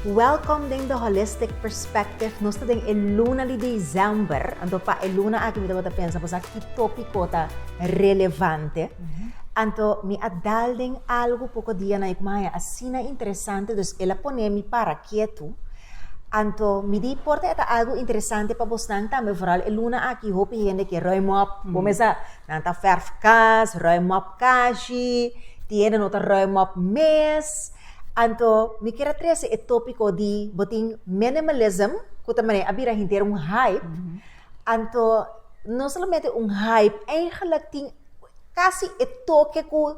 Welkom den The Holistic Perspective. Nos ta den e luna di Dizember, anto pa e luna aki mi tabata pensa bosa ki tópiko ta relevante. Anto mi a dal den algu poko dia na e ku mi a haña asina interesante, dus el a pone mi para ketu. Anto mi di por ta e ta algu interesante pa bosnan tambe, foral e luna aki hopi hende ke ruim op, bo mesa Nan ta verf kas, ruim op kashi, tiene no ta ruim op mes. Anto mi kier a trese e topiko di bo tin minimalism, ku ta manera a bira henter un hype. Anto no solamente un hype, eigenlik tin kasi e toke ku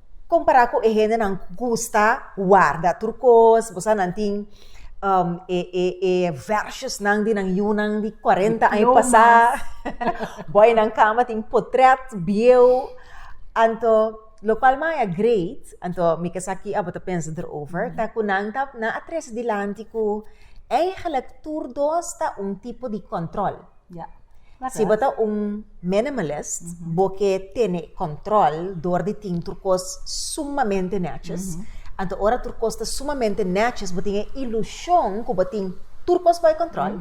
Kompará ku e hendenan ku gusta warda tur kos, bo sa nan tin e e e vèrsosnan di nan yunan di kuarenta aña pasá, boynan kamba tin potrèt bieu, anto lokual maya greet, anto mi ke sa ki abo ta pensa derover, ta ku nan ta nan a trese dilanti ku eigelik tur dos ta un tipo di kòntròl. Si bo ta un minimalist, bo ke tene kòntròl dor di tin tur kos sumamente nètjes. Anto ora tur kos ta sumamente nètjes, bo tin e ilushon ku bo tin tur kos bai kòntròl.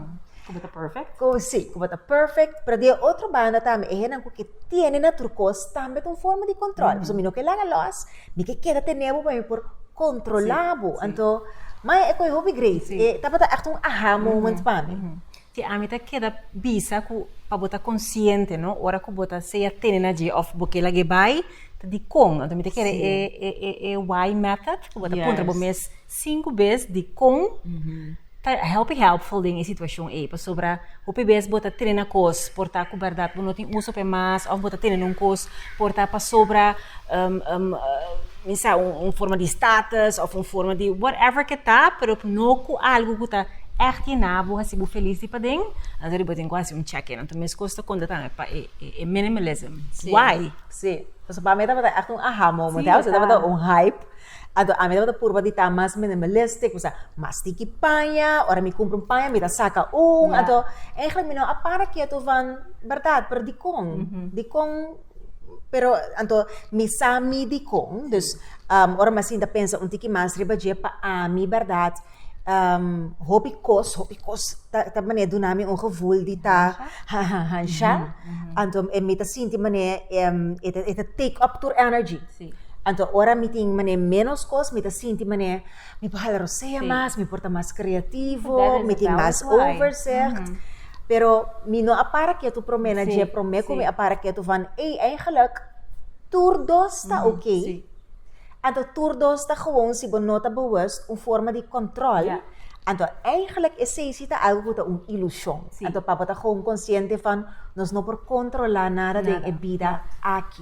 Ku bo ta pèfèkt. Ku, si, ku bo ta pèfèkt. Pero di e otro banda tambe, e hendenan ku ke tiene na tur kos tambe ta un forma di kòntròl. Pasobra mi no ke laga lòs, mi ke keda tene bo pa mi por kontrolá bo. Anto, mai e kohe hopi great. E tabata ègt un aha moment pa mi. Te ami ta keda bisa ku pa bo ta konsiente no ora ku bo ta sea tene na dje òf bo ke lag'é bai ta dikon. Anto mi ta kere e e e why method ku bo ta puntra bo mes sinku bes dikon ta hopi hèlpful den e situashon ei pasobra hopi bes bo ta tene na kos por ta ku bèrdat bo no tin uso p'e mas òf bo ta tene na un kos por ta pasobra mi sa, un forma di status of un forma di whatever ke ta, pero no ku algu ku ta ègt i na bo hasi bo felis di paden, anto bo tin ku hasi un check in. Anto meskos ta konta tambe pa e minimalism. Why? Sí, pasobra pa mi tabata ègt un aha moment, you know, si tabata un hype. Anto ami tabata purba di ta mas minimalistic, mi sa, mas tiki paña, ora mi kumpra un paña mi ta saka un. Anto, eigentlik mi no a para ketu van, bèrdat? Pero dikon? Dikon? Pero anto mi sa mi dikon, dus ora mi a sinta pensa un tiki mas riba dje, pa ami bèrdat, hopi kos, hopi kos ta manera duna mi un gevul di ta hansha. Anto mi ta sinti manera e ta take up tur energy. Anto ora mi tin manera ménos kos, mi ta sinti manera. Mi por hala rosea sí. mas, mi por ta mas creativo, mi tin mas overzicht. Mm -hmm. Pero mi no a para ketu prome na dje prome ku mi a para ketu van ei eigenlijk tur dos ta mm, oké. Sí. Anto tur dos ta gewoon si bo no ta bewus un forma di kontrol. Yeah. Anto eigenlijk e seisi ta algo ku ta un ilusion. Sí. Anto papa ta gewoon konsiente van nos no por kontrola nada, nada. den e bida aki.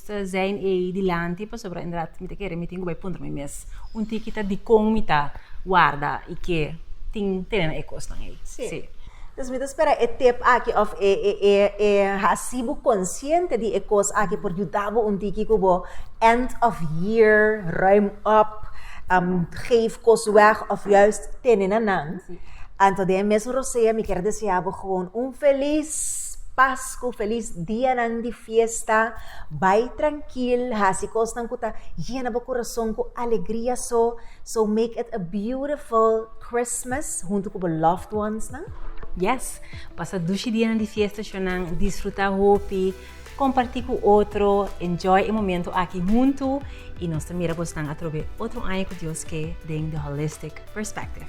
ta zijn ei dilanti pasobra inderdat mi ta kere mi tin ku bai puntra mi mes un tiki ta dikon mi ta warda i ke tin tene na e kosnan ei. Sí. Entonces mi ta spera e tip aki of e e e hasi bo konsiente di e kos aki por yuda bo un tiki ku bo end of year ruim op, geef kos wèg of juist tene na nan. Anto den e mes rosea mi kere desea bo un feliz pasku, feliz dianan di. Fiesta, Bai trankil, hasi kosnan ku ta yena bo kurason ku alegria so, so make it a beautiful Christmas huntu ku bo loved onesnan. Yes, pasa dushi dianan di fiesta shonnan, disfrutá hopi, kompartí ku otro, enjoy e momentu aki huntu i nos ta mira bosnan atrobe otro aña ku Dios ke den The Holistic Perspective.